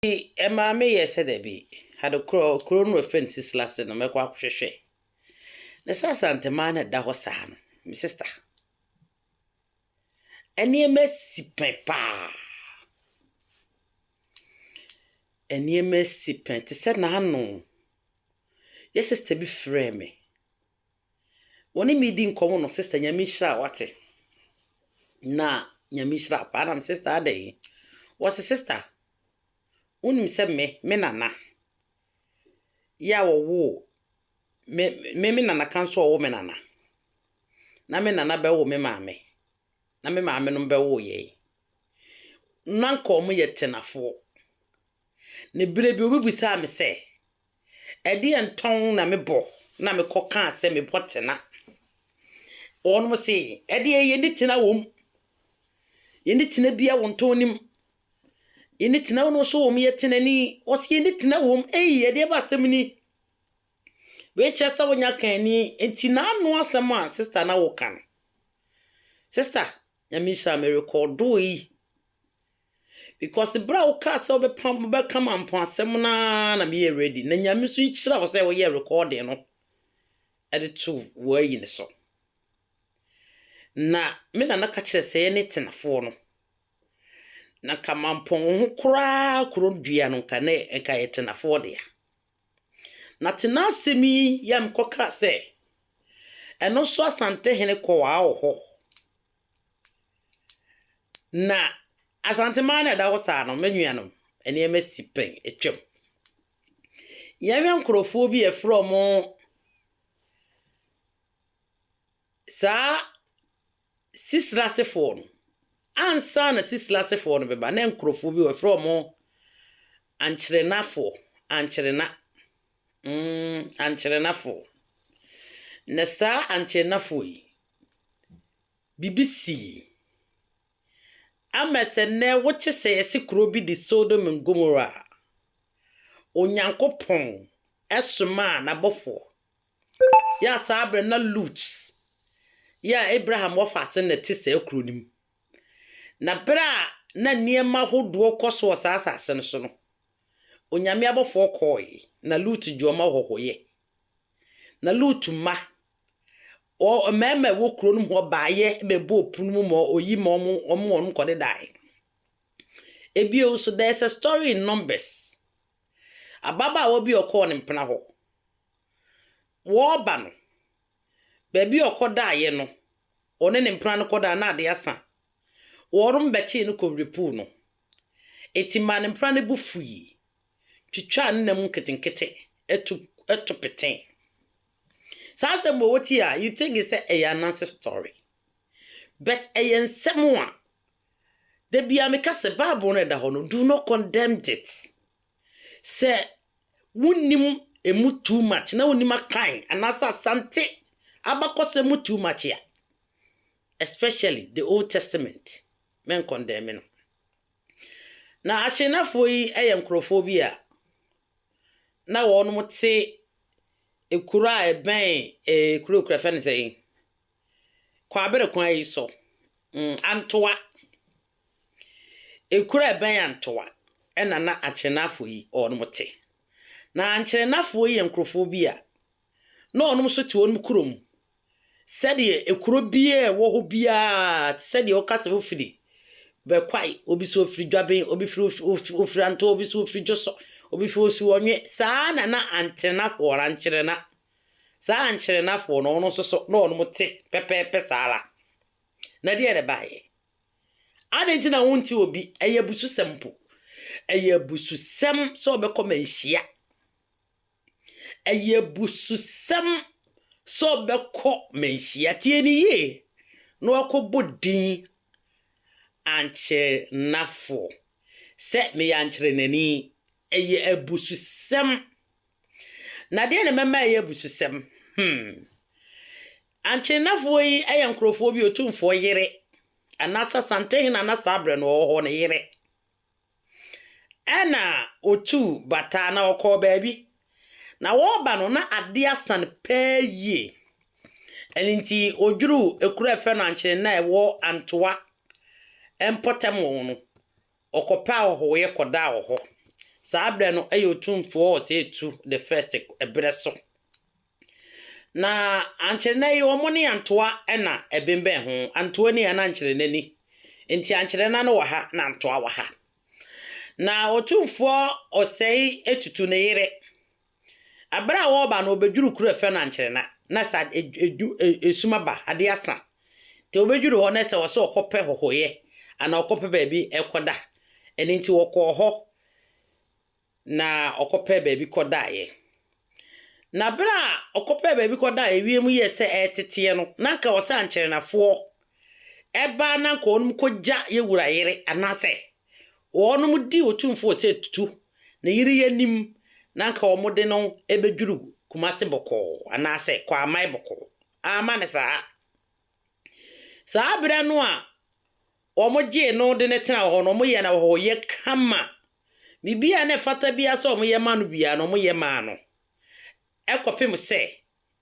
Ntsi ɛmaa me yɛɛ sɛ dɛ bi ade kor a kurow no wɔfrɛ no Sisilase no mɛkɔ akɔhwehwɛ. Na sɛ Asanteman na ɛda hɔ saa no, me sista, nneɛma esi pɛn paa. Nneɛma esi pɛn te sɛ n'ano. Yɛ sista bi frɛɛ me Wɔne me redi nkɔmmɔ no, Sister Nyame nhyira wo wate. Na Nyame nhyira wo paa nam Sister adɛn? Wɔse Sister, wonim sɛ me, me nana, yɛ a wɔwoo me, me, me nana ka nso ɔwo me nana. Na me nana bɛwo me maame, na me maame nom bɛwo yɛn. Na nka wɔn yɛ tenafoɔ. Na berɛ bi obi bisaa me sɛ, Ɛdeɛn tɔn na me bɔ na me kɔ kaa sɛ me bɔ tena? Wɔnom se, Ɛdeɛ yɛnni tena wɔ mu, yɛnni tena bia wɔ ntɔn no mu, yɛnni tena wɔ no so wɔ mu, yɛ tenani. Wɔse, Yɛnni tena wɔ mu. Ei, ɛdeɛ ba asɛm ni? Wei kyerɛ sɛ wonya kaani. Nti n'ano asɛm a sista na woka no, sista, Nyame nhyira, merekɔdoo yi, Because bere a wokaa sɛ wobɛpam wobɛka mampɔn asɛm no ara na meyɛɛ ready na Nyame nso nhyira wo sɛ woyɛɛ recording no de too w'ayi no so. Na me nana ka kyerɛ sɛ yɛne tenafoɔ no na nka mampɔn ho koraa kuro dua no nka ne nka yɛ tenafoɔ dea. Na tena asɛm yi yɛ a mekɔkaa sɛ ɛno nso Asantehene kɔɔ a wɔ hɔ. Na Asanteman a ɛda hɔ saa no, me nuanom, nneɛma si pɛn, atwam. Yɛhwɛ nkurɔfoɔ bi a wɔfrɛ wɔn saa Sisrasefoɔ no, ansa na Sisrasefoɔ no bɛba no, na nkurɔfoɔ bi hɔ a wɔfrɛ wɔn Ankyerenafoɔ, Ankyerena, mm, Ankyerenafoɔ. Na saa Ankyerenafoɔ yi, biribi sii. Ama sɛ nnɛ wote sɛ yɛse kuro bi de Sodom and Gomorrah a, Onyankopɔn somaa n'abɔfoɔ. Yɛ a saa berɛ no na Lut yɛ Abraham wɔfaase no na ɛte saa kuro no mu. Na berɛ a na nneɛma ahodoɔ kɔ so wɔ saa asase no so no, Onyame abɔfoɔ kɔɔe na Lut gye wɔn ahɔhoyɛ Na Lut mma, wɔ mmarima a ɛwɔ kuro no mu hɔ baeɛ bɛbɔɔ pono mu ma ɔyi ma wɔn, wɔn wɔn kɔdedaeɛ. Ebio nso, there is a story in Numbers. Ababaawa bi a ɔkɔɔ ne mpena hɔ. Wɔreba no, baabi a ɔkɔdaeɛ no, ɔne ne mpena no kɔdaa na ade asa. Wɔn bɛkyee no kɔwere puu no. Eti maa ne mpena no bo fui. twitwaa ne nan mu nketenkete to to petee. Saa asɛm wɔ wotie a you think sɛ ɛyɛ ananse story. But ɛyɛ nsɛm a da biara meka sɛ Bible no ɛda hɔ no do not condemn it. Sɛ wonnim emu too much na wonnim akan anaasɛ asante abakɔsɛm mu too much a especially the old testament mɛnkɔndɛme no. Na Akyennafoɔ yi yɛ nkorɔfoɔ bi a na wɔnom te kuro a ɛbɛn eeh kuro kura fɛn no sɛn yi Kwabere kwan yi so mm Antoa ekuro a ɛbɛn Antoa ɛna na Akyennafoɔ yi wɔnom te. Na Ankyennafoɔ yi yɛ nkorɔfoɔ bi a. na ɔnom nso te wɔnom kuro mu, sɛdeɛ ekuro biara a ɛwɔ hɔ biara, te sɛ deɛ woka sɛ wofiri Bɛkwae, obi sɛ ofiri Dwaben, obi firi of of Ofirantoo, obi sɛ ofiri Dwosɔ, obi firi osi Ɔnwe, saa na na Anterenafoɔ anaa Ankyerena, saa Ankyerenafoɔ no wɔn nso so na wɔnom te pɛpɛɛpɛ saa ara. Na deɛ na ɛbaeɛ. Adɛn nti na wonte obi, ɛyɛ abususɛm mpo, ɛyɛ abususɛm sɛ ɔbɛkɔ manhyia, Ɛyɛ abususɛm sɛ ɔbɛkɔ manhyia, tie no yie, na wakɔbɔ din Ankyenafo sɛ meyɛ ankyenani. Ɛyɛ abususɛm. Na deɛn na mɛma ayɛ abususɛm? Hmm. Ankyenafoɔ yi yɛ nkorɔfoɔ bi a Otumfoɔ yere, anaasɛ Asantehene a na saa berɛ no ɔwɔ hɔ no yere. Ɛnna otuu bataa na ɔkɔɔ baabi, na wɔreba no, na ade asa no pɛɛ yie. Ɛno nti, ɔduruu kuro a wɔfrɛ no Ankyene no a ɛwɔ Antoa mpɔtam hɔ no, ɔkɔpɛ ahɔhoeɛ kɔdaa wɔ hɔ. Saa berɛ no, ɛyɛ Otumfoɔ Osei Tutu the First berɛ so. Na ankyere nnɛ yi wɔn ne Antoa na ɛbembɛn ho. Antoa ni a na ankyere nnɛ ni. Nti ankyere nnɛ no wɔ ha na Antoa wɔ ha. Na Otumfoɔ Osei atutu ne yere. Bere a wɔreba no wɔbɛdwuru kuro a ɛfrɛ no Ankyere Nna. Na sɛ edu esum aba, adeɛ asa. Nti wɔbɛdwuru hɔ na sɛ ɔsɛ ɔkɔpɛ hɔhoeɛ anaa ɔkɔpɛ baabi ɛkɔda. Ɛno nti wɔkɔɔ hɔ. na ɔkɔpɛɛ baabi kɔdaeɛ. Na berɛ a ɔkɔpɛɛ baabi kɔdaeɛ wiem yɛɛ sɛ ɛreteteɛ no, na anka ɛwɔ sɛ ankyɛrenafoɔ ba na anka wɔnom kɔgya yɛ wura yere anaasɛ wɔnom di Otumfoɔ sɛ tutu ne yere yi anim na anka wɔde no bɛdwiri Kumase bɔkɔɔ anaasɛ Kwaaman bɔkɔɔ. Amma no saa. Saa berɛ no a Wɔgyee no de no tenaa hɔ no, wɔyɛɛ no ahɔhoyɛ kama. Biribiara a na ɛfata biara sɛ wɔyɛ ma no biara no, wɔyɛ maa no. Ɛkɔpem sɛ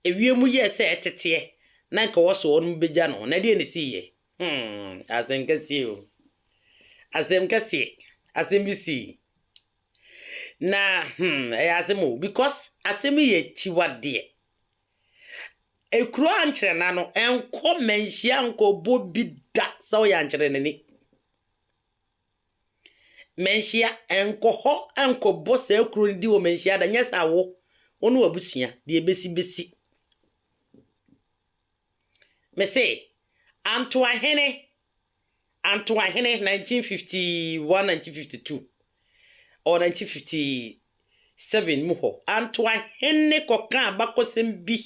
ewiem yɛɛ sɛ ɛteteɛ na anka ɛwɔ sɛ wɔbɛgya no. Na ɛdeɛn na ɛsiiɛ? Hmm, asɛm kɛseɛ o. Asɛm kɛseɛ. Asɛm bi sii. Na hmm, ɛyɛ asɛm o, because asɛm yi yɛ akyiwadeɛ. Ekuro ankyerɛna no nkɔ manhyia nkɔbɔ bi da sɛ ɔyɛ ankyerɛnani. Manhyia nkɔ hɔ nkɔbɔ saa kuro no di wɔ manhyia da nyɛ sɛ awo wo ne w'abusua deɛ ɛbɛsi bɛsi. Mese Antoahene Antoahene, 1951–1952, ɔwɔ 1957 mu hɔ. Antoahene kɔkaa abakɔsɛm bi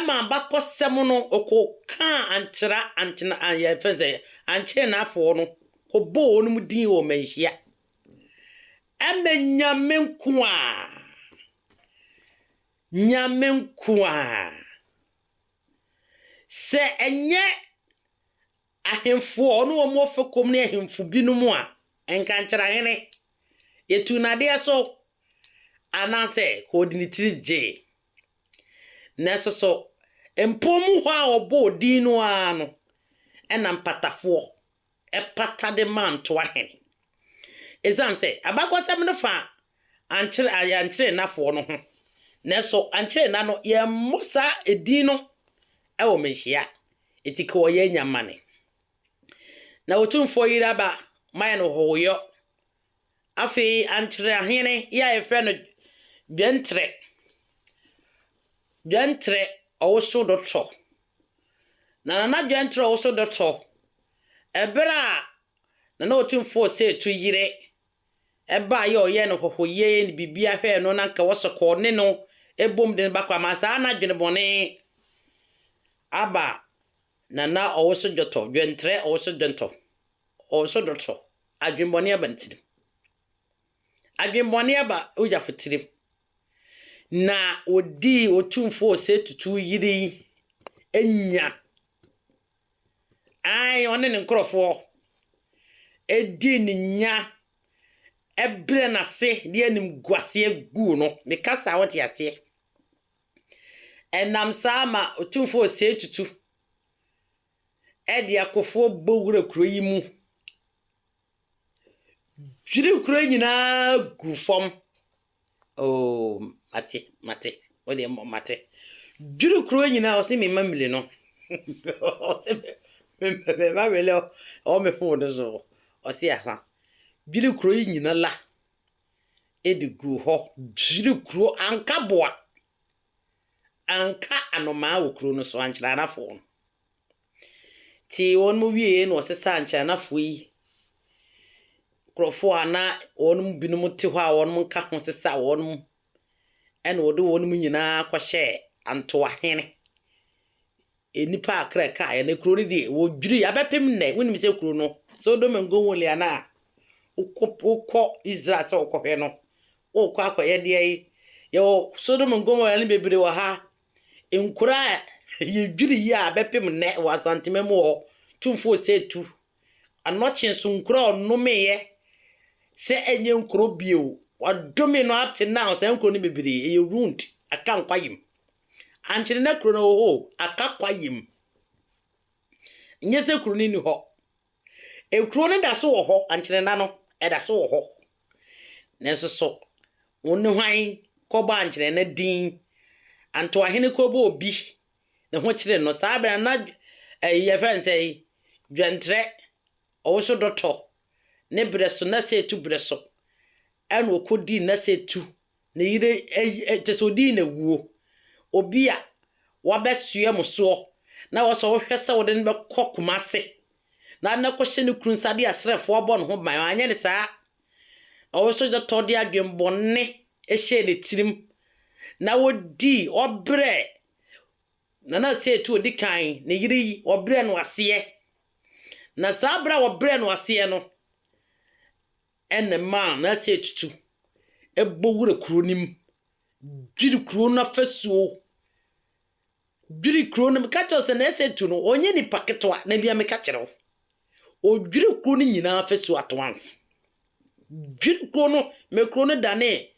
ma abakɔsɛm no ɔkɔkaa ankyera ankyena an yɛfrɛ no sɛ ankyerenafoɔ no kɔbɔɔ wɔnom din wɔ manhyia ma Nyame nkoaa Nyame nkoaa. Sɛ ɛnyɛ ahemfoɔ ne wɔn ɔfɛkɔm ne ahemfo binom a, nka nkyerɛ hene, yɛtuu no adeɛ so, anaasɛ ka ɔde ne tiri gyee. Nanso so mpɔn mu hɔ a wɔbɔɔ din no ara no na mpatafoɔ ɛpata de maa ntoahene. Esiane sɛ abakɔsɛm no fa ankyere a ankyerɛnnafoɔ no ho, nanso ankyerɛnna no yɛmmɔ saa edin no wɔ mmehyia enti ka wɔyɛ anya mane. Na Otumfoɔ Yiraba mayɛ no hohoyɔ Afei ankyere ahene yi a yɛfrɛ no Dwɛntrɛ, Dwɛntrɛ Ɔwoso Dɔtɔ. Na Nana Dwɛntrɛ Ɔwoso Dɔtɔ, ɛberɛ a Nana Otumfoɔ Osetu yere ɛbaa yɛ ɔyɛɛ no hɔhoyɛ yɛ ne biribiara hwɛɛ no na nka wɔsɔ kɔ ɔne no ɛbom de no ba kɔ ama saa na adwene bɔne aba Nana ɔwoso dwɔtɔ dwɛntrɛ ɔwoso dwɛntɔ ɔwoso dwɔtɔ adwenbɔne aba ne tirim adwenbɔne aba Ogyafo tirim na odii Otumfo Osei Tutu yere yi anya ae ɔne ne nkorɔfoɔ ɛdii ne nya ɛbrɛ n'ase de animguaseɛ guu no meka saa wote aseɛ Ɛnam saa ma Otumfoɔ Osei Tutu de akofoɔ bɔ wura kuro yi mu, dwiri kuro yi nyinaa gu fam. Oo, mate, mate, wo deɛ mmɔ mate. Dwiri kuro yi nyinaa, ɔse me mmamire no. Ɔse me, me, me mmamire no, ɛwɔ me phone no so. Ɔse aha. Dwiri kuro yi nyina la. de guu hɔ dwirii kuro anka aboa anka anomaa wɔ kuro no so ankyeranafoɔ no tee wɔn mu wieɛ na ɔsesaa ankyeranafoɔ yi nkurɔfoɔ a na wɔn mu binom te hɔ a wɔn nka ho sesaa wɔn mu ɛna ɔde wɔn mu nyinaa kɔhyɛɛ antoahene Nnipa a kra kaeɛ no, kuro no deɛ, wɔdwirii abɛpem nnɛ. Wonim sɛ kuro no, Sodom and Gomorrah no a wokɔ, wokɔ Israel sɛ wokɔhwɛ no, wokɔ akɔyɛ deɛ yi. Yɛwɔ Sodom and Gomorrah no bebree wɔ ha. Nkuro a yɛdwiri yi a abɛpem nnɛ wɔ Asantema mu hɔ, Tumfoɔ Osei Tuh, Anokye so nkuro a ɔnomeeɛ sɛ ɛnyɛ nkuro bio, wɔadome no up to now, saa nkuro no bebree, ɛyɛ ruined, aka nkwa yem. Ankyene na kuro no hohoo aka kwaeɛm. Nyɛ sɛ kuro no nni hɔ. Ekuro no da so wɔ hɔ, Ankyene nna no, ɛda so wɔ hɔ. Nanso so wo ne hwan kɔbɔ Ankyene nna din? Antoahene kɔbɔ obi ne ho kyere no. Saa berɛ no na ɛyi yɛfrɛ no sɛn? Dwɛntrɛ, ɔwoso dɔtɔ, ne berɛ so, Nnasetu berɛ so, ɛna ɔkɔdii Nnasetu Ne yere ɛyi kyɛ sɛ ɔdii no awuo. Obi a wabɛsoɛ mo soɔ na wɔ sɛ wohwɛ sɛ wode no bɛkɔ Kumase na wode no akɔhyɛ ne kunu nsa de asrɛfoɔ abɔ ne ho ban. Wanyɛ no saa. Na wo nso gyata wode adwene bɔne hyɛɛ ne tirim na wodii, wɔbrɛɛ Nana Osei-Tuo ɔdi kan, ne yere yi, wɔbrɛɛ no aseɛ. Na saa berɛ a wɔbrɛɛ no aseɛ no, Ɛnna ɛmaa n'asaetutu bɔ wuraa kurow no mu, dwirii kurow no afasuo, dwirii kurow no, meka kyerɛ wo sɛ n'asaetu no, ɔnyɛ nipa ketewa, na bia meka kyerɛ wo. Ɔdwirii kurow no nyinaa afasuo at once. Dwirii kurow no, ma kurow no danee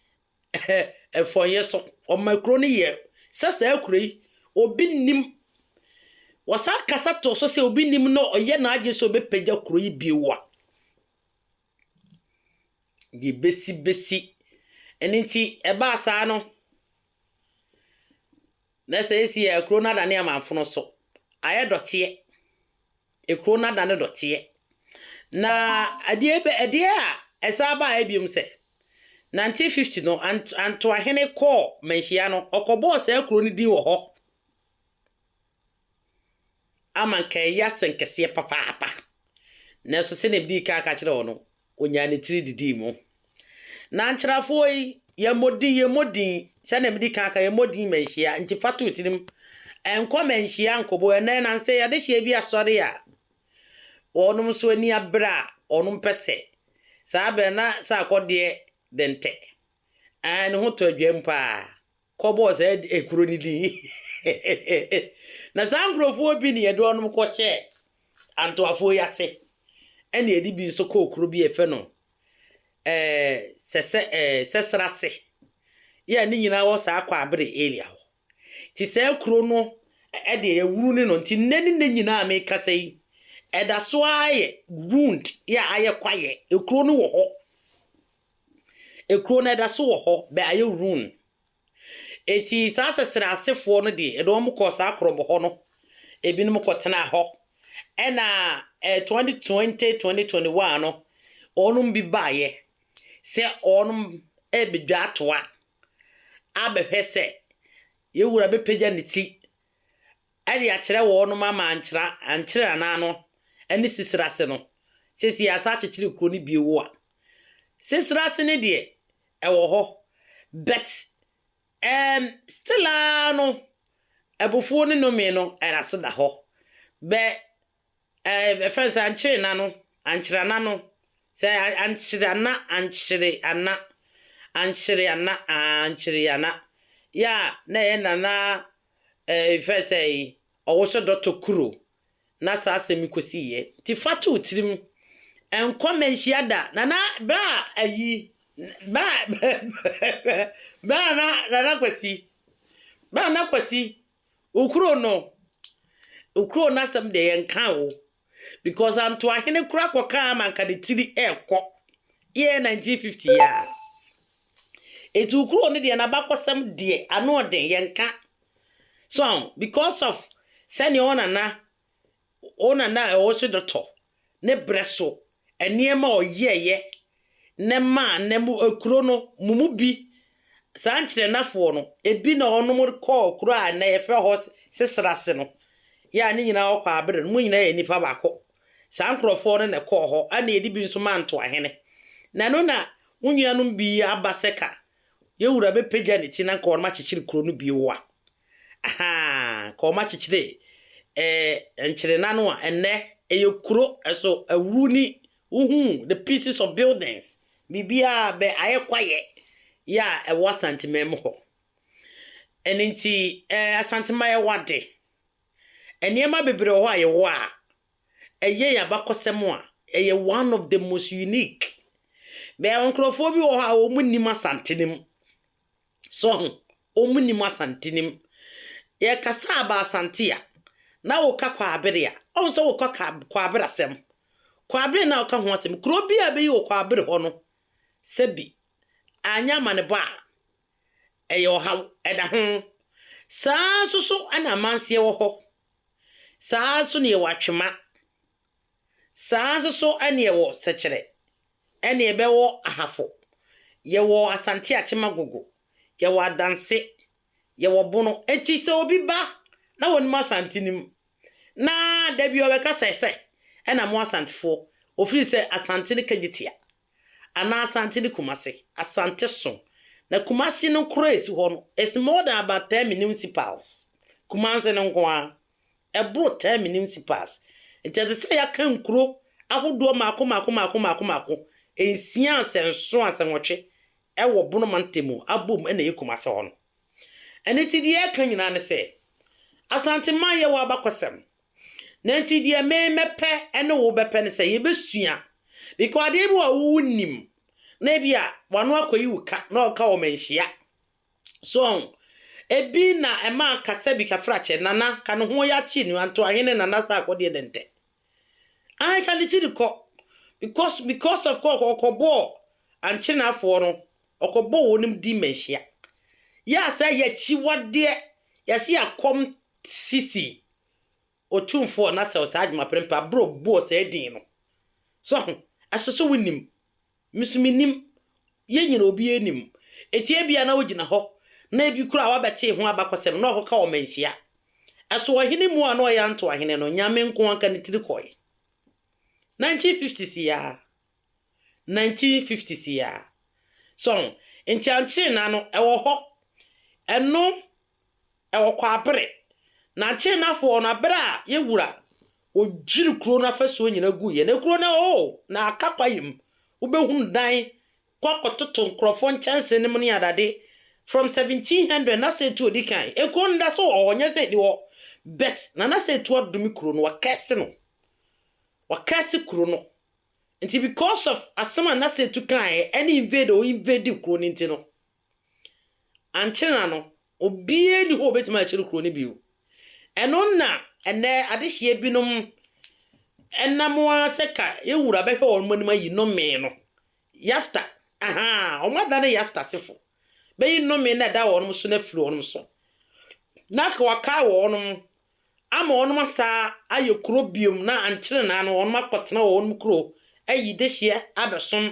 mfɔnyɛ so. Ɔma kurow no yɛ sɛ saa kurow yi, obi nnim. Wɔsan kasa too so sɛ obi nnim na ɔyɛ n'adwene sɛ ɔbɛpagya kurow yi bio a, Deɛ ɛbɛsi bɛsi. Ɛno nti, ɛbaa saa no, na seesei a, kuro no adane amanfono so. Ayɛ dɔteɛ. Ekuro no adane dɔteɛ. Na adeɛ bɛ adeɛ a ɛsan baeɛ bio sɛ, nineteen fifty no, Ant Antoahene kɔɔ Manhyia no, ɔkɔbɔɔ saa kuro no din wɔ hɔ. Ama anka ɛyɛ asɛnkɛseɛ papaapa. Nanso sɛdeɛ medii kan ka kyerɛɛ wo no, ɔnyaa ne tiri didii mu. Na nkyerɛfoɔ yi, yɛmmɔ din, yɛmmɔ din, sɛdeɛ medi kan ka, yɛmmɔ din ma nhyia, nti fa to wo tirim. Ɛnkɔ ma nhyia nkɔbɔ. Ɛnnɛ nam sɛ yɛadehyeɛ bi asɔre a, wɔnom nso ani abere a, wɔnom pɛ sɛ, saa berɛ na sɛ akɔdeɛ dɛntɛ. Ɛɛ, ne ho tɔ adwam paa. kɔbɔɔ saa kuro no din. Na saa nkurɔfoɔ bi ne yɛde wɔnom kɔhyɛɛ Antoafoɔ yi ase, ɛna yɛde bi nso kɔɔ kuro bi a yɛfrɛ no ɛɛ Sɛsɛ ɛɛ Sɛsrase, yɛ a ne nyinaa wɔ saa Kwaabere area hɔ. Nti saa kuro no ɛdeɛ yɛwuru ne no, nti nnɛ ne nnɛ nyinaa a mekasa yi, ɛda so ara yɛ ruined, yɛ a ayɛ kwaeɛ, kuro no wɔ hɔ. Ekuro no ɛda so wɔ hɔ bɛ ayɛ ruin. Enti saa sɛsrɛ asefoɔ no deɛ ɛde wɔn kɔɔ saa korɔbo hɔ no ebinom kɔ tenaa hɔ ɛna eh, 2020 2021 no wɔnom bi baeɛ sɛ wɔnom ɛbɛdwa atoa abɛhwɛ sɛ yɛ wura bɛpagya ne ti ɛde akyerɛ wɔnom ama ankyera ankyere anaa no ɛne sisira ase no sɛsi yɛ asa akyekyere kuro no bio a Sesere ase no deɛ ɛwɔ hɔ but ɛɛm still ara no abufuo ne nomee no ɛda so da hɔ bɛ ɛɛ ɛfɛn sɛ ankyere na no ankyere ana no sɛ ankyere ana ankyere ana ankyere ana ankyere ana yɛ a na ɛyɛ nana ɛɛ fɛn sɛ ɔwoso dɔtɔ kuro na saa asɛm yi kosiiɛ. Nti fa to wo tirim, nkɔ mmanhyia da. Na na berɛ a ayi, berɛ a, berɛ a na Nana Kwasi, berɛ a Nana Kwasi, wo kuro no, wo kuro no asɛm deɛ yɛnkaa o, because Antoahene koraa kɔkaa ma anka ne tiri rekɔ, yɛɛ 1950 yi ara. Etuo koro no deɛ n'abakɔsɛm deɛ ano ɔden yɛnka so aho because of sɛnea ɔnana ɔnana a ɛwɔ so dɔtɔ ne brɛ so nneɛma a ɔyɛɛyɛ na maa na mu kuro no mu mu bi saa nkyerɛnafoɔ no ebi na ɔnom kɔɔ kuro a na yɛfrɛ hɔ sesrase no yɛ a ne nyinaa ɔkɔ abere no mu nyinaa yɛ nipa baako saa nkurɔfoɔ no na ɛkɔɔ hɔ ɛna yɛde bi nso maa ntoahene na no na Wo nuanom bi aba sɛ ka yɛn wura bɛpagya ne ti na nka wɔakyekyere kuro no bio a. Ahaa, nka wɔakyekyere eh, Nkyerena no a ɛnnɛ ɛyɛ kuro so awuru ni. Wohuu the pieces of buildings, biribiara bɛ ayɛ kwayɛ yɛ a ɛwɔ Asanteman mu hɔ. Ɛno nti eh, Asanteman yɛwɔ ade. Nneɛma bebree wɔ hɔ a yɛwɔ a Ɛyɛ yɛn abakɔsɛm a, ɛyɛ one of the most unique. Bɛyɛ nkurɔfoɔ bi wɔ hɔ a wɔn nnim Asante no mu. So ho? Wɔn nnim Asante no mu. Yɛ kasa a ba Asante a, na wo ka Kwabere a, ɔhu sɛ wo ka ka Kwabere asɛm. Kwabere na wo ka ho asɛm. Kuro bi a bɛyi wɔ Kwabere hɔ no, sɛ bi anyɛ amanebɔ a, ɛyɛ ɔhaw, ɛda ho. Saa nso so ɛna Amanseɛ wɔ hɔ. Saa ara nso na yɛwɔ atwema. Saa ara nso so na yɛwɔ sɛkyerɛ, na yɛbɛwɔ ahafo. Yɛwɔ Asante Akyem Agogo, yɛwɔ Adanse, yɛwɔ Bono. Enti sɛ obi ba na wɔnim Asante no mu, na da bi ɔbɛka sɛ, Sɛ na mo Asantefoɔ, ɔfiri sɛ Asante no kagye tia. anaa Asante ne Kumasi, Asante so, na Kumasi no koro a esi hɔ no, is more than about ten municipals, Kumasi no nko ara, ɛboro ten municipals, nti ɛte sɛ yɛaka nkuro ahodoɔ mmaako mmaako mmaako mmaako mmaako nsia ansɛ nson ansɛ nwɔtwe wɔ Bono mantam mu abɔ mu na ɛyɛ Kumasi hɔ no. Ɛno nti deɛ yɛreka nyinaa ne sɛ, Asanteman yɛwɔ abakɔsɛm, Na nti deɛ me mɛpɛ ne wo bɛpɛ no sɛ yɛbɛsua because adeɛ bi wɔ a wo nim na ebi a wano akɔyi wo ka na ɔka wɔ manhyia so ɔn ebi na ɛma kasa bi kafrakyɛ nana ka ne ho yɛ akyi ne anto ahene nana saa akɔdeɛ dɛ ntɛ an ka ne ti ne kɔ because because of kɔ ɔkɔbɔ ankyenafoɔ no ɔkɔbɔ wɔn nim di manhyia yɛ asɛ yɛ akyiwadeɛ yɛse akɔm Sisi Otumfoɔ na sɛw saa adwuma prɛmpɛ a bro bɔɔ saa din no so ahu ɛso so wonim me so me nim yɛn nyina obiara nim eti ebia na wogyina hɔ na ebi koraa wabɛtee ho abakɔsɛm na ɔkɔka wɔ manhyia ɛso ɔhene mu a na ɔyɛ anto ahene no nyame nko anka ne tiri kɔe 1950s yaa 1950s yaa so ahu nti ankyere na no ɛwɔ hɔ ɛno ɛwɔ Kwabre, Nankyee Nafoɔ no bere a yɛn wura ɔdwiri kuro no afasuo nyinaa guiɛ. Na kuro no oo, na aka kwaeɛ mu. Wobɛhunu dan kɔ akɔtoto nkorɔfoɔ nkyɛnse no mu ne adade from 1700 na sɛ tu ɔdi kan. Kuro no da so wɔ hɔ, nyɛ sɛ ɛnni hɔ but Nana sɛ tu adome kuro no, wakɛse no. Wakɛse kuro no. Nti because of asɛm a Nana sɛ tu kaeɛ ɛne invade a ɔinvadee kuro no nti no, Ankyɛ na no, obiara nni hɔ a obetumi akyere kurow no bio. Ɛno na ɛnnɛ adehyeɛ binom nam ara sɛ ka yɛn Wura bɛhwɛ wɔn anim ayi nnome no. Yafta, ahaa, wɔadane Yafta asefo, bɛyi nnome no a ɛda wɔn so no afiri wɔn so, na wɔakae wɔn ama wɔnom asaa ayɛ kuro biom na ankyere naa no wɔnom akɔtena wɔ wɔnom kuro ayi dehyeɛ abɛsom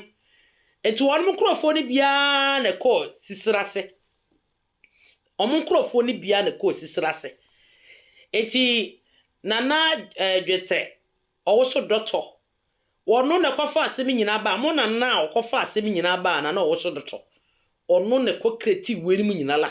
nti wɔnom nkorɔfoɔ no biaa na ɛkɔɔ Sisera ase wɔn nkorɔfoɔ no biaa na ɛkɔɔ Sisera ase nti Nana eh, Dwetɛ ɔwoso dɔtɔ wɔno na ɛkɔfa asɛm nyinaa baa mo nana a ɔkɔfa asɛm nyinaa baa Nana ɔwoso dɔtɔ wɔno na ɛkɔ kreti wei no mu nyina la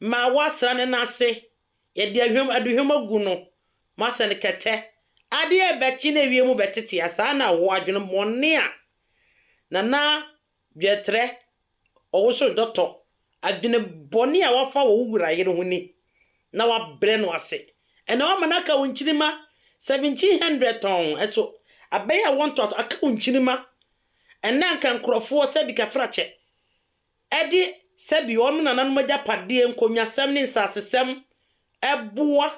Ma wɔasra no n'ase, yɛde ahwam aduhwam agu no, moasɛ no kɛtɛ. Ade a ɛbɛkye na ewiem bɛtete a, saa na ɛwɔ, adwemmɔne a na na dwɛtrɛ ɔwosow dɔtɔ, adwene bɔne a wɔafa wɔ wo wura yere ho ni, na wɔabrɛ no ase. Ɛnna wɔama no aka wo nkyirimma seventeen hundred tɔnn, ɛso abɛyɛ awoɔ ntoatoaso, aka wo nkyirimma, ɛnna anka nkurɔfoɔ sɛ adikafrakyɛ, de sɛdeɛ wɔn nananom agyapadeɛ, nkonnwasɛm ne nsasesɛm boa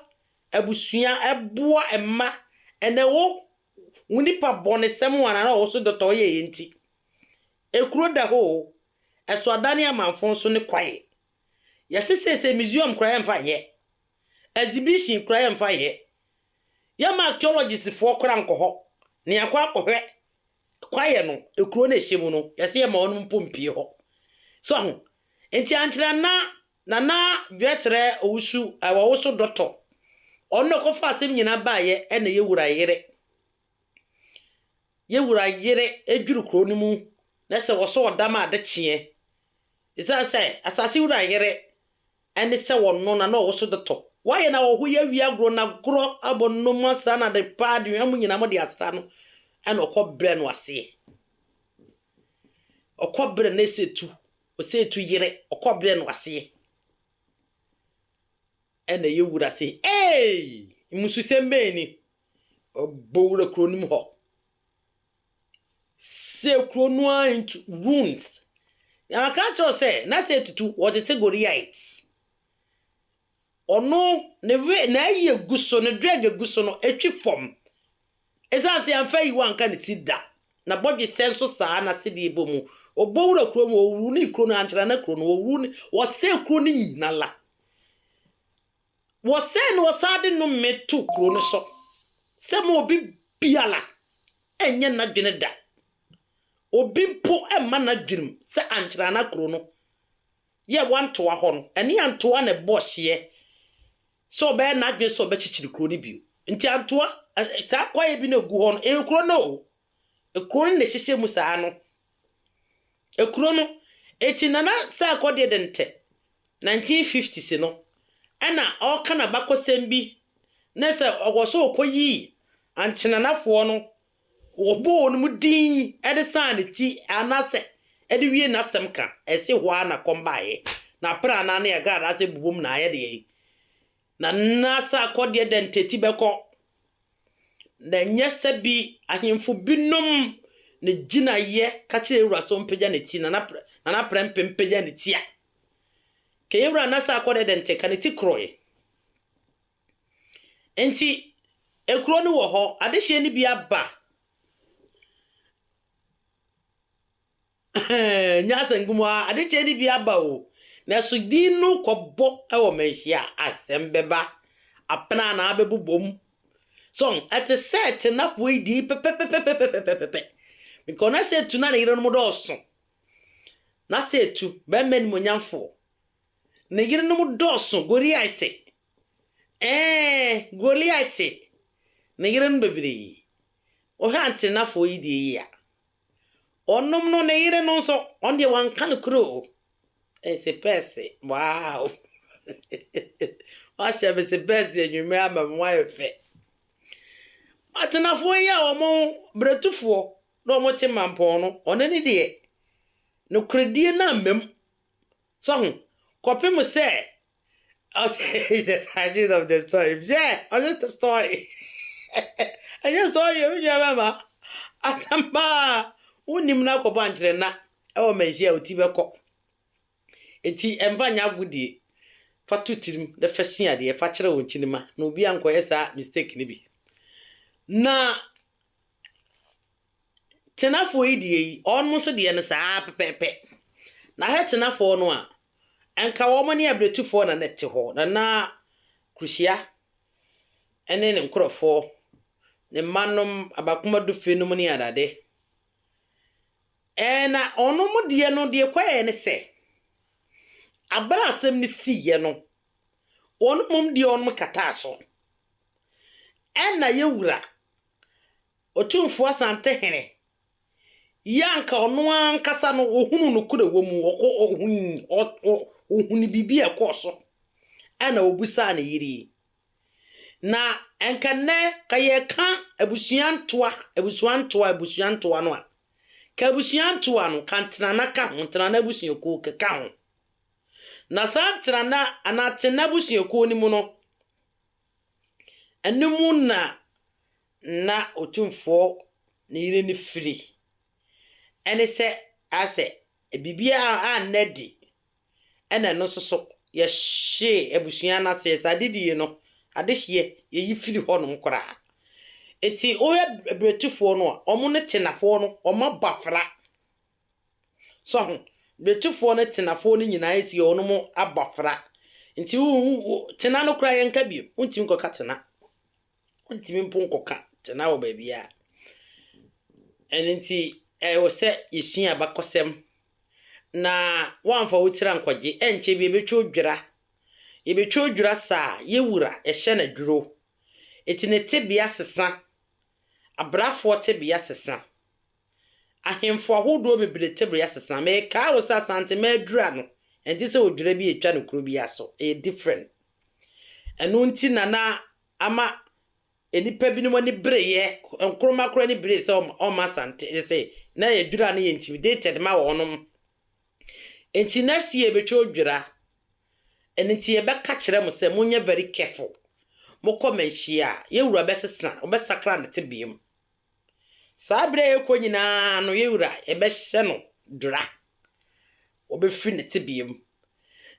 abusua, boa mma, ɛna ɛwɔ wo nipa bɔnesɛm ho anaa na ɔwɔ so dɔtɔ ɔyɛ yɛ nti. Ekuro da hɔ o, ɛso adane amanfo nso ne kwae. Yɛse seesei museum koraa yɛmfa nyɛ, exhibition koraa yɛmfa nyɛ, yɛmma archaeologistfoɔ koraa nkɔ hɔ na yɛakɔ akɔhwɛ Kwaeɛ no, kuro no a ɛhyɛ mu no, yɛse yɛma wɔnom mpo mpue hɔ. So ahu? Nti ankyerɛ na Nana Dwɛterɛ Owusu wɔwoso dɔtɔ. Ɔno na ɔkɔfaa asɛm nyinaa baeɛ ɛna yɛwura yere, yɛwura yere ɛdwiri kuro no mu na sɛ wɔsɔ ɔdam a ade kyeɛ. Ɛsiane sɛ asase wura yere ɛne sɛ wɔno na na ɔwoso de tɔ. Wɔayɛ no ahɔho yi awie agorɔ na agorɔ abɔ no no mu asra no ade pa ara de hwam nyinaa mo de asra no ɛna ɔkɔ brɛ no aseɛ. Ɔkɔ brɛ no ɛsɛ tu, ɔsɛ ɛtu yere, ɔkɔ brɛ no aseɛ. Ɛna ɛyɛ wura se, Eeii! Mmususɛm bɛn ni? Ɔbɔ wura kuro no mu hɔ. Sɛ kuro no ara ntu, ruins. Na wɔka kyerɛ wo sɛ, na sɛ ɛtutu, wɔte sɛ Goliat. Ɔno, ne we, n'ayi a ɛgu so, ne drɛg a ɛgu so no, ɛtwi fam. Ɛsiane sɛ yɛamfa ayiwa anka ne ti da. N'abɔdwesɛ nso saa, n'asedeɛ bɔ mu. Ɔbɔ wura kuro mu, ɔwuru ne kuro no, ankyɛre na kuro no, ɔwuru ne, ɔsɛe kuro no nyinala. Wɔsɛe na wɔsan de nnome to kurow no so sɛ mma obi biara nyɛ n'adwene da. Obi mpo mma n'adwenem sɛ ankyɛre a na kurow no yɛ wɔantoa hɔ no, ɛne Antoa na ɛbɔɔ hyeɛ sɛ ɔbɛyɛ n'adwene sɛ ɔbɛkyekyere kurow no bio. Nti Antoa, saa kwaeɛ bi na ɛgu hɔ no, ɛyɛ kurow no o. Kuro no na ɛhyehyɛ mu saa no. Kuro no, enti Nana Sarko deɛ de ntɛ 1950s no ɛna ɔreka n'abakɔsɛm bi ne sɛ ɔkɔ so kɔyii Ankyenanafoɔ no, ɔbɔɔ wɔnom din de saa ne ti anaasɛ de wiee n'asɛm ka. Ɛse hɔ ara na kɔm baeɛ na aprɛ anaa ne agradaa sɛ bobom na ayɛ deɛn. Na nna sɛ akɔdeɛ dɛ ntɛti bɛkɔ, na ɛnyɛ sɛ bi ahemfo binom ne gyinaeɛ ka kyerɛ Yewura so mpagya ne ti, Nana Nana Prɛmpeh mpagya ne ti a, ka Yewura nna sɛ akɔdeɛ dɛ ntɛ, ka ne ti korɔe. Nti, ekuro no wɔ hɔ, adehyeɛ no bi aba. Ɛnyɛ asɛm nko ara, ade kyee no bi aba o, nanso din no kɔbɔ wɔ manhyia a, asɛm bɛba. Apena na abɛbobom. So, ɛte sɛ Tenafoɔ yi din pɛpɛpɛpɛpɛpɛpɛpɛ. Because na Setu na ne yerenom dɔɔso. Na Setu, barima animuonyamfoɔ, ne yerenom dɔɔso, Goliate. Ɛɛ, Goliate, ne yerenom bebree. Wohwɛ Antenafoɔ yi deɛ yi a, Ɔnom no ne yere no nso, ɔno deɛ wanka no kuro o. Ɛyɛ sepɛɛse, wow! Wahyɛ me sepɛɛse anwummerɛ ama me, wayɛ fɛ. Atenafoɔ yi a wɔn berɛtufoɔ na wɔte mampɔn no, ɔno ne deɛ, nokorɛdie no ammam. So ho? Kɔpem sɛ ɔsɛ the tragedy of the story hwɛ ɔsɛ the story ɛnyɛ story o nua bɛma asɛm paa wonim no akɔbɔ ankyerɛ na ɛwɔ manhyia a oti bɛkɔ eti ɛmfa nyɛ agodie fa to tirim na fa sua adeɛ fa kyerɛ wɔn kyinima na obi ankɔyɛ saa mistake no bi na Tenafoɔ yi deɛ yi, wɔn nso deɛ no saa ara pɛpɛɛpɛ. Na hwɛ Tenafoɔ no a, anka wɔn ne Abiretufoɔ na na ɛte hɔ, na na Kuruhyia ne ne nkorɔfoɔ, ne mma nom, Abakoma Dufe nom ne adade. Ɛɛ na wɔn deɛ no, deɛ ɛkɔɛɛ ne sɛ, abere a asɛm no siiɛ no, wɔn mmom deɛ wɔn kataa so. Ɛna yɛn wura, Otumfoɔ Asantehene yi a anka ɔno ankasa no ɔhunuu nokorɛ a ɛwɔ mu, ɔkɔ, ɔhui, ɔ, ɔ, ɔhunuu biribi a ɛkɔɔ so, ɛna ɔbisaa ne yere yi. Na anka nnɛ, ka yɛreka abusua ntoa, abusua ntoa, abusua ntoa no a, ka abusua ntoa no, ka Ntenana ka ho, Ntenana abusuakuo ka, ka ho. Na saa Ntenana anaa Tenna abusuakuo no mu no, Ɛno mu na na Otumfoɔ ne yere no firi. Ɛne sɛ, asɛ biribiara anna adi, ɛna ɛno nso so, yɛhyee abusua no aseɛ. Sɛ ade die no, adehyeɛ, yɛyi firi hɔnom koraa. Enti woyɛ berɛtufoɔ no a, wɔn ne tenafoɔ no, wɔn abɔfra. So ho? Brekyifoɔ ne Tenafoɔ no nyinaa asi wɔnom abɔfra. Nti wo, wo, wo, Tena no koraa yɛnka bio. Wontumi nkɔka Tena. Wontumi mpo nkɔka Tena wɔ baabiara. Ɛno nti, ɛwɔ sɛ yɛsua abakɔsɛm na woamfa wo tiri ankɔgye. Ɛnkyɛ bi ɛbɛtwa odwira. Yɛbɛtwa odwira saa, yɛ wura, yɛhyɛ no aduro. Ɛti ne tebea sesa. Abrafoɔ tebea sesa. Ahemfo ahodoɔ bebree tebea sesa. Mekaa wo sɛ Asantema adura no, ɛnte sɛ odwira bi a ɛtwa no kuro biara so. Ɛyɛ different. Ɛno nti na na ama nnipa binom ani bereeɛ. Nkrumah koraa ani beree sɛ ɔmma Asante, sɛ na adura no yɛ intimidated ma wɔnom. Nti next year yɛbɛtwa odwira. Ɛno nti yɛbɛka kyerɛ mo sɛ monyɛ very careful. Mokɔ manhyia a, yɛn wura bɛsesa, ɔbɛsakra ne tebea mu. Saa bere a ɛrekɔ nyinaa no, yɛn Wura, yɛbɛhyɛ no dura. Ɔbɛfiri ne tebea mu.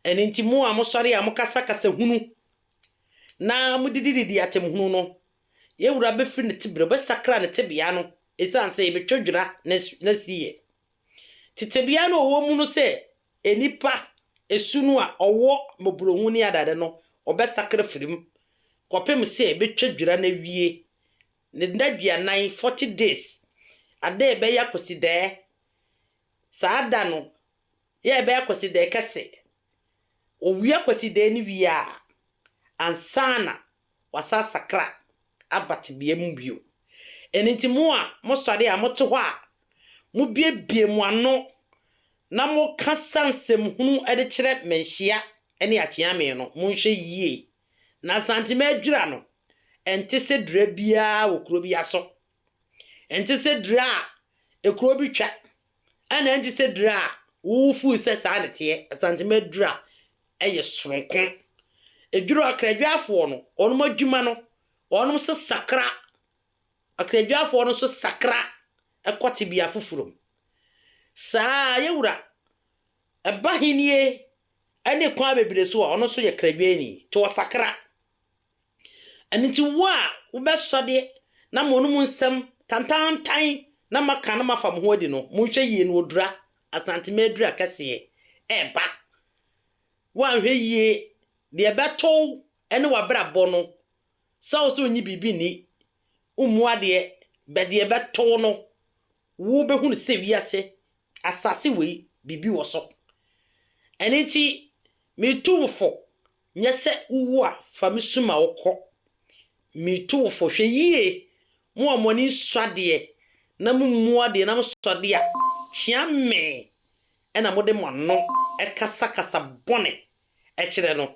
Ɛno nti, mo a mosɔre a mokasa kasa hunu na modidididi atemhunu no, yɛn Wura bɛfiri ne tebea, ɔbɛsakra ne tebea no, ɛsiane sɛ yɛbɛtwa dwera n'asiyɛ. Te tebea no a ɔwɔ mu no sɛ nnipa su no a ɔwɔ mmɔborɔhunu ne adade no, ɔbɛsakra firi mu, kɔpem sɛ yɛbɛtwa dwera no awie Ne nnaduanan, forty days, ada a ɛbɛyɛ Akwasidaɛ, saa da no yɛ a ɛbɛyɛ Akwasidaɛ kɛse. Ɔwie Akwasidaɛ no wie a, ansa na wɔasan asakra aba tebea mu bio. Ɛno nti mo a mosɔre a mote hɔ a, mobiebie mo ano na mokasa nsɛmhunu de kyerɛ Manhyia ne Akyeame no, monhwɛ yie. Na Nsantima adwira no, ɛnte sɛ dira biara wɔ kuro biara so. Ɛnte sɛ dira a ekuro bi twa, ɛna ɛnte sɛ dira a wo feel sɛ saa na ɛteɛ. Nsantima adwira yɛ soronko. Adwira Akradwafoɔ no, wɔn adwuma no, wɔn nso sakra. Akradwafoɔ no nso sakra kɔ tebea foforɔ mu. Saa ara, yɛn wura Ɛba Ahenni ne kwan bebree so a, ɔno nso yɛ kradwɛni, nti ɔsakra. Ɛno nti, wo a wobɛsɔ deɛ na moano mu nsɛm tantaantan na moaka na moafa mo ho adi no, monhwɛ yie na ɔdura, Asantema aduru akɛseɛ reba. Woanhwɛ yie, deɛ ɛbɛto wo ne w'abrabɔ no, sɛ wo sɛ wonnye biribi nni, wommu adeɛ, bɛ deɛ ɛbɛto wo no, Wo bɛ hunu sɛ wiase, asase wei, biribi wɔ so. Ɛno nti, me tu wo fo, nyɛ sɛ wo wu a, fa me su ma wo kɔ. Me tu wo fo, hwɛ yie, mo a mo ani nsɔ adeɛ, na mo mmu adeɛ, na mo sɔ adeɛ a, kyea me, ɛna mo de mo ano kasa kasa bɔne kyerɛ no,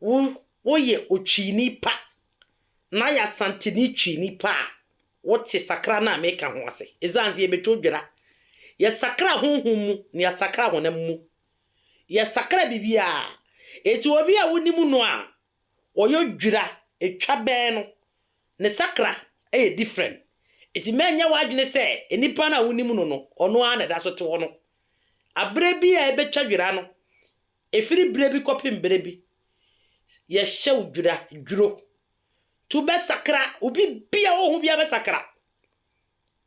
Wo woyɛ otwini pa na yɛ Asanteni twini pa a, wote sakra no a meka ho ase. Esiane sɛ yɛbɛtwa odwira, yɛsakra honhom mu na yɛasakra honam mu. Yɛsakra biribiara. Enti obi a wonim no a ɔyɛ odwira, ɛtwa bɛn no, ne sakra yɛ different. Enti mɛnyɛ w'adwene sɛ nnipa no a wonim no no, ɔno ara na ɛda so te hɔ no. Aberɛ bi a ɛbɛtwa dwira no, Ɛfiri berɛ bi kɔpem berɛ bi, yɛhyɛ wo dwira, dwuro, nti wobɛsakra, wo biribiara a woho biara bɛsakra,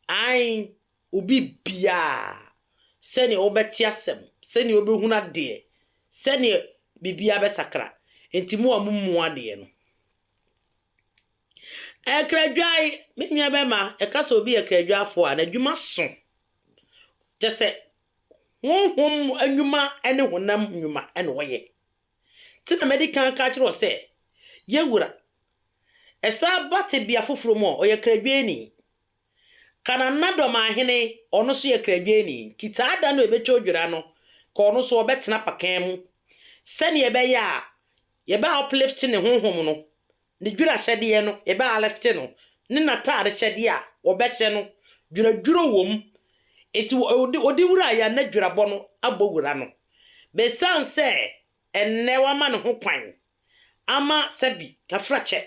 ae, wo biribiara, sɛdeɛ wobɛte asɛm, sɛdeɛ wobɛhunu adeɛ, sɛdeɛ biribiara bɛsakra, nti mo a momu adeɛ no. Akradwae, me nua bɛma, ɛka sɛ obi yɛ kradwafoɔ a, n'adwuma so, kyɛ sɛ Honhom nnwuma ne honam nnwuma na wɔyɛ. Nti na madi kan aka akyerɛ wo sɛ, yɛ wura. Ɛsan ba tebea foforɔ mu a, ɔyɛ kradwɛni. Kananadom ahene, ɔno nso yɛ kradwɛni. Nti saa da no a ɛbɛtwa odwira no, ka ɔno nso ɔbɛtena pakan mu, sɛdeɛ ɛbɛyɛ a yɛbɛ uplift ne honhom no, ne dwerahyɛdeɛ no bɛ alifte no ne n'ataadehyɛdeɛ a wɔbɛhyɛ no dweradwera wɔ mu, enti ɔde wuraeɛ a na dwerabɔ no abɔ wura no. Besiane sɛ ɛnnɛ wɔama ne ho kwan ama sɛbi kafrakyɛ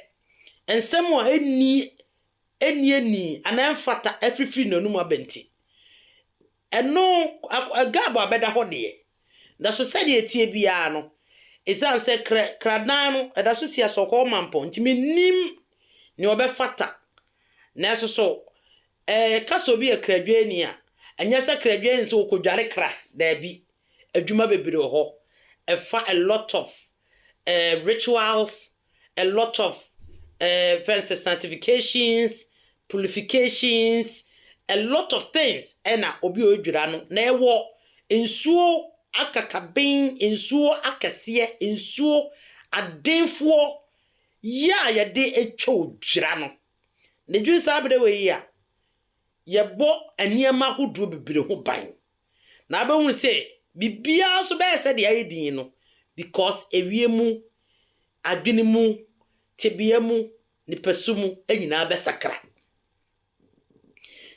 nsɛm a ɛnni ɛnni anaa ɛmfata afirifiri n'anom aba nti, Ɛno, Gab a bɛda hɔ deɛ. Nanso sɛdeɛ ɛteɛ biara no, esiane sɛ krɛ, kradan no, ɛda so si asɔkɔɔ mampɔn nti, mennim nea ɔbɛfata. Nanso so ɛɛ, ka sɛ obi yɛ kradwɛni a, ɛnyɛ sɛ kradwɛni ne sɛ ɔkɔdware kra, daabi. Adwuma bebree wɔ hɔ. Ɛfa a lot of ɛɛ rituals a lot of eh, fɛn sɛ sanctifications, purifications, a lot of things ɛna obi a ɔdwira no na ɛwɔ nsuo akakaben, nsuo akɛseɛ, nsuo adenfoɔ yɛ a yɛde atwa odwira no. Na ɛdwiri saa berɛ wei a, yɛbɔ nneɛma ahodoɔ bebree ho ban. Na abɛhunu sɛ biribiara nso bɛyɛ sɛdeɛ ayɛ dinn no because awie mu, adwene mu, tebea mu, nipasu mu nyinaa bɛsakra.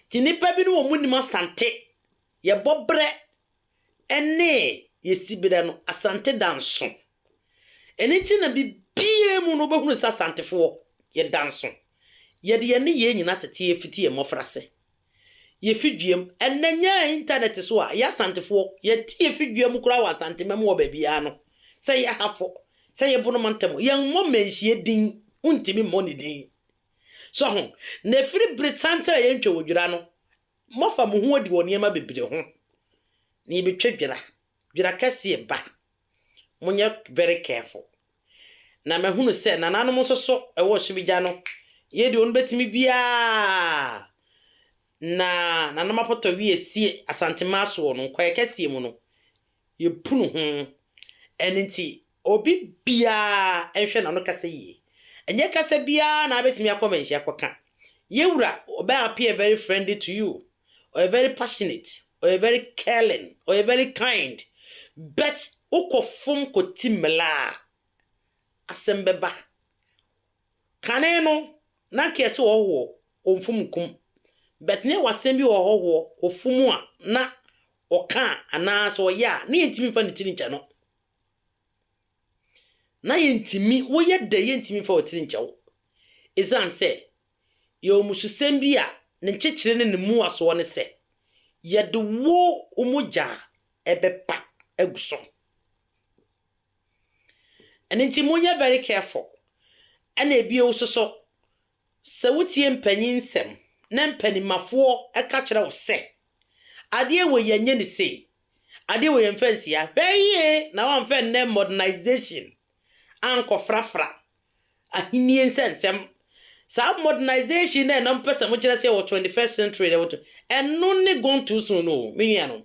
Nti nnipa bi no wɔn nim Asante, yɛbɔ berɛ ne yɛsi berɛ no, Asante da nso. Ɛno nti na biribiara mu no wobɛhunu sɛ Asantefoɔ yɛda nso. Yɛde yɛn nneyɛɛ nyinaa tete yɛn fiti yɛn mmɔfra ase. Yefi duam. Ɛnnɛ nyɛ intanɛt so a, yɛ Asantefoɔ, yɛte yefi dua mu koraa wɔ Asantema mu wɔ baabiara no, sɛ yɛ Hafo, sɛ yɛ Bono mantam, yɛmmɔ Manhyia din, wontumi mmɔ ne din. So ho? Na ɛfiri bere tantene a yɛntwa wɔ dwira no, moafa mo ho adi wɔ nneɛma bebree ho. Na yɛbɛtwa dwira, dwira kɛseɛ ba. Monyɛ very careful. Na mahunu sɛ nananom nso so wɔ Ɔsom Agya no yɛ deɛ ɔbɛtumi biara, na nanom apɔtɔ wi asie Asantemaa soɔ no, Nkwaya kɛseɛ mu no, yɛpunu ho. Ɛno nti, obi biara nhwɛ n'ano kasa yie. Ɛnyɛ kasa biara na abɛtumi akɔ manhyia akɔka. Yɛn wura, Ɔbaa appear very friendly to you. ɔyɛ very passionate, ɔyɛ very caring, ɔyɛ very kind but wokɔ fom kɔ ti mmla a asɛm bɛba. Kane no na nka yɛse ɔhɔhoɔ ɔmfom nkum but na yɛwɔ asɛm bi wɔ ɔhɔhoɔ ɔfom a na ɔka a anaa sɛ ɔyɛ a na yɛntumi mfa ne tiri nkyɛ no. Na yɛntumi, woyɛ dɛ yɛntumi mfa wo tiri nkyɛ wo ɛsiane sɛ yɛ amususɛm bi a ne nkyekyere ne ne mmuasoɔ ne sɛ, Yɛde wo wo mogya a ɛbɛpa agu so. Ɛno nti monyɛ very careful. Ɛna ebio nso so, sɛ wotie mpanyin nsɛm na mpanimafoɔ ka kyerɛ wo sɛ, adeɛ wei yɛnyɛ ne sei, adeɛ wei yɛmfa nsi ha, hwɛ yie na woamfa nnɛ modernisation ankɔfrafra Ahenni nsɛnsɛm. Saa modernisation no a na mopɛ sɛ mokyerɛ sɛ yɛwɔ 21st century no, ɛno ne gone too soon no o, me nuanom.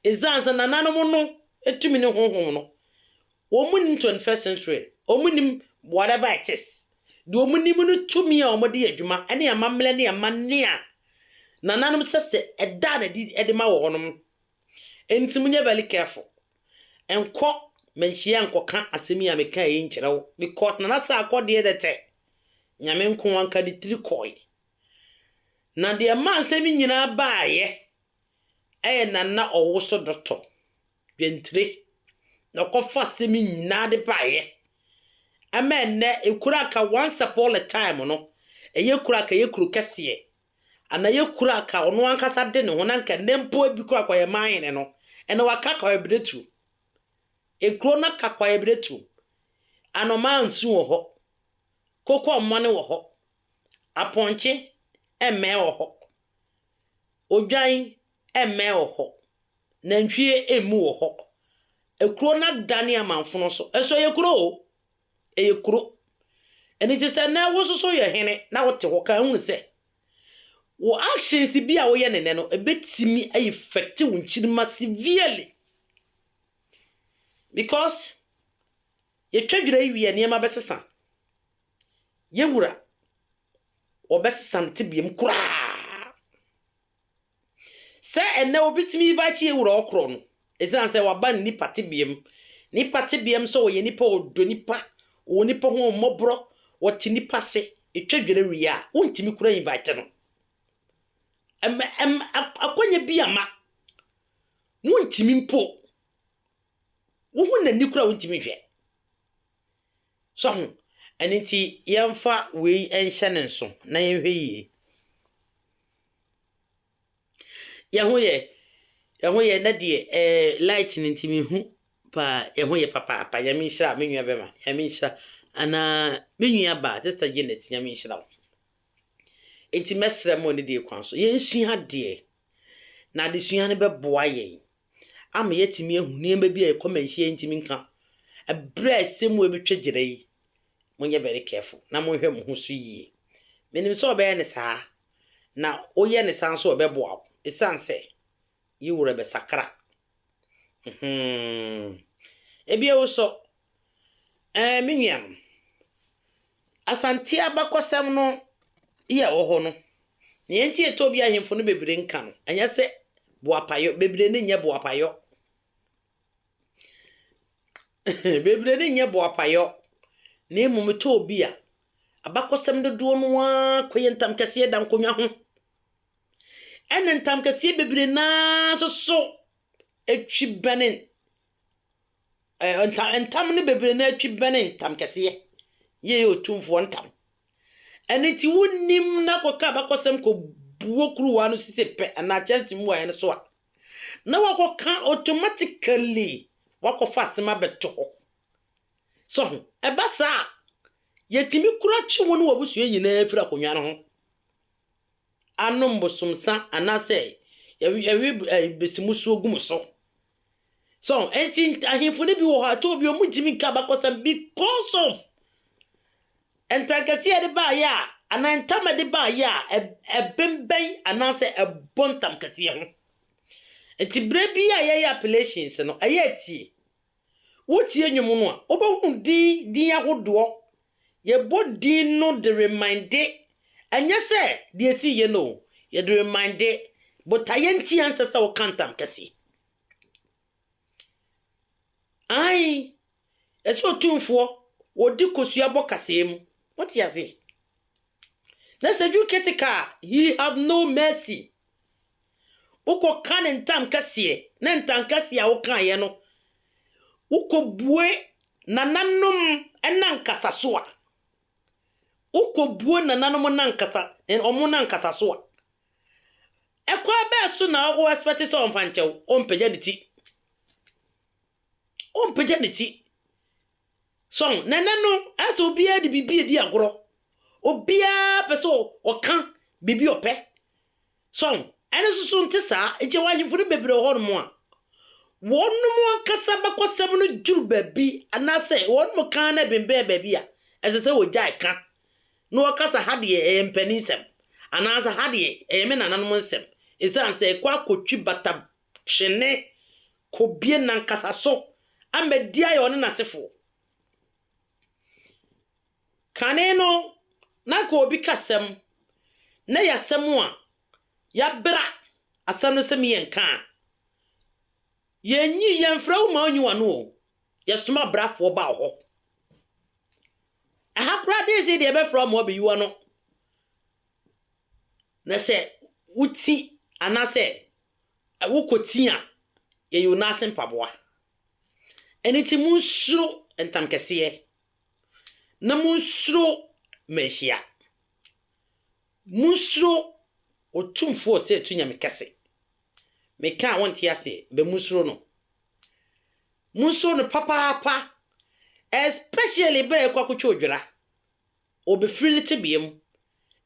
Esiane sɛ nananom no tumi ne honhom no, wɔnnim 21st century, wɔnnim whatever it is. Deɛ wɔnim no tumi a wɔde yɛ adwuma ne amammerɛ ne amanne a nananom sɛ sɛ ɛda no adi de ma wɔ hɔnom. Enti monyɛ very careful. Nkɔ manhyia nkɔka asɛm yi a mekae yi nkyerɛ wo, because Nana Sarkɔ deɛ dɛ tɛ, Nyame nkoa nka ne tiri kɔe. Na deɛ ɛmaa nsɛm yi nyinaa baeɛ yɛ Nana Ɔwoso Dɔtɔ Dwantire na ɔkɔfa asɛm yi nyinaa de baeɛ. Ɛma ɛnnɛ, Ekuraka once upon a time no, ɛyɛ Ekuraka ɛyɛ kuro kɛseɛ. Ana yɛ kura aka ɔno ankasa de ne ho na nka nnɛ mpo ebi kura kwayɛ man hene no ɛna waka kwayɛ bere turu ekuro na ka kwayɛ bere turu anɔmaa nsu wɔ hɔ koko ɔmɔne wɔ hɔ apɔnkye ɛmɛɛ wɔ hɔ odwan ɛmɛɛ wɔ hɔ nantwie emu wɔ hɔ ekuro na da ne amanfono so ɛso yɛ kuro o Ɛyɛ kuro. Ɛno nti sɛ nnɛ wo nso so yɛ hene na wote hɔ ka hunu sɛ wo actions bi a woyɛ no nnɛ no ɛbɛtumi a effect wo nkyirimma severely. Because yɛtwa dwira yi wie a nneɛma bɛsesa. Yɛn wura wɔbɛsesa ne tebea mu koraa. Sɛ ɛnnɛ obi tumi ba tie wura ɔkorɔ no, ɛsiane sɛ waba ne nipa tebea mu. Ne nipa tebea mu sɛ ɔyɛ nipa a ɔdɔ nipa, ɔwɔ nipa ho ahummɔborɔ, ɔte nipa ase, ɛtwa dwere wie a, wontumi koraa invite no. Ɛm, ɛm, ak, akwanya bi ama. Wontumi mpo. Wohu n'ani koraa a wontumi nhwɛ. So ahu? Ɛno nti yɛmfa wei nhyɛ no nso na yɛnhwɛ yie. Yɛn ho yɛ? Yɛn ho yɛ? Nnɛ deɛ ɛɛ light no nti menhu paa. Yɛn ho yɛ papaapa. Nyame nhyira me nua bɛma. Nyame nhyira anaa me nua baa Sister Janet Nyame nhyira wo. Enti mɛsrɛ mo ne deɛ kwan so yɛnsua adeɛ na adesua no bɛboa yɛn ama yɛatumi ahu nneɛma bi a yɛn kɔmɛnhyia ntumi nka ɛberɛ a ɛsɛ mu ɛbɛtwa gyina yi, monyɛ very careful na monhwɛ mo ho so yie. Menim sɛ ɔbɛyɛ no saa, na woyɛ no saa nso a ɔbɛboa wo ɛsiane sɛ yi werɛ bɛsakra. Hmm. Ebia wo sɔ. Ɛɛ, me nuanom. Asante abakɔsɛm no yɛ a ɛwɔ hɔ no, nea enti a Ethiopia ahemfo no bebree nka no, ɛnyɛ sɛ boapayɔ, bebree no nyɛ boapayɔ. bebree no nyɛ boapayɔ, na mmom ɛtɔ obi a, abakɔsɛm dodoɔ no ara kɔyɛ ntamkɛseɛ da nkonnwa ho. Ɛna ntamkɛseɛ bebree no ara nso so twi bɛne Ɛɛ nta ntam no bebree no ara twi bɛne ntamkɛseɛ, yei yɛ otumfoɔ ntam. Ɛno nti wonim na kɔka abakɔsɛm kɔbuo kuruwa no sisem pɛ anaa kyɛnse mu ayɛ no so a, na wakɔka automatically wakɔfa asɛm abɛto hɔ. So ho? Ɛba saa a, yɛtumi kura kye wo ne w'abusua nyinaa firi akonnwa no ho anom bosomsa anaasɛ yɛwe besimusuo gu mo so. So enti ahemfo no bi wɔ hɔ a ɛtɔ obi wɔn ntumi nka abakɔsɛm because of ntankɛseɛ de baayɛ a anaa ntam de baayɛ a ɛbɛnbɛn anaasɛ ɛbɔ ntam kɛseɛ ho nti berɛ bi a yɛyɛ appellations no ɛyɛ atie wotie nnwom no a wobɛhunu din din ahodoɔ Yɛbɔ din no de reminde, ɛnyɛ sɛ deɛ ɛsii yɛ no o, yɛde reminde botaeɛ nti ɛnsɛ sɛ woka ntam kɛseɛ. Ae, ɛsɛ otumfoɔ ɔdi kosua bɔ kaseɛ mu, wote ase? Na sɛ you critical a, he have no mercy. Wokɔka ne ntankɛseɛ, ne ntankɛseɛ a wokaeɛ no, wokɔbue nananom nankasa so a, wokɔbue nananom nankasa, wɔn nankasa so a, ɛkwan bɛɛ so na wo expect sɛ ɔmfa nkyɛ wo? Ɔmpagya ne ti. Ɔmpagya ne ti. So na ɛnnɛ no ayɛ sɛ obiara de biribi redi agorɔ? Obiara pɛ sɛ ɔka biribi a ɔpɛ. So ɛno nso so nte saa? Nti wɔ ahemfo no bebree wɔ hɔnom a, wɔnom ankasa abakɔsɛm no duru baabi anaasɛ wɔnom ka na ɛbembɛn baabi a, ɛsɛ sɛ wɔgyae ka na wɔka sɛ ha deɛ ɛyɛ mpanin nsɛm anaasɛ ha deɛ ɛyɛ me nananom nsɛm, esiane sɛ ɛkɔ akɔtwi bata twene kɔbue nankasa so ama di ayɛ ɔne n'asefoɔ. Kane no, na anka obi ka asɛm na ɛyɛ asɛm a yɛabra asɛm no sɛ me yɛnka a, yɛnyi, yɛmfrɛ wo ma wonyi w'ano o, yɛsoma abrafoɔ ba wo hɔ. Ɛha koraa de sei deɛ yɛbɛfrɛ wo ma wabɛyi w'ano. Na sɛ woti anaasɛ ɛwo kɔ ti a, yɛyɛ onua ase mpaboa. Ɛno nti monsuro ntamkɛseɛ, na monsuro mmanhyia. Monsuro Otumfoɔ Ɔsɛetu Nyame Kɛse. Meka a wonte aseɛ, bɛ monsuro no. Monsuro no papaapa, especially berɛ a yɛkɔ akɔtwa odwira. Ɔbɛfiri ne tebea mu.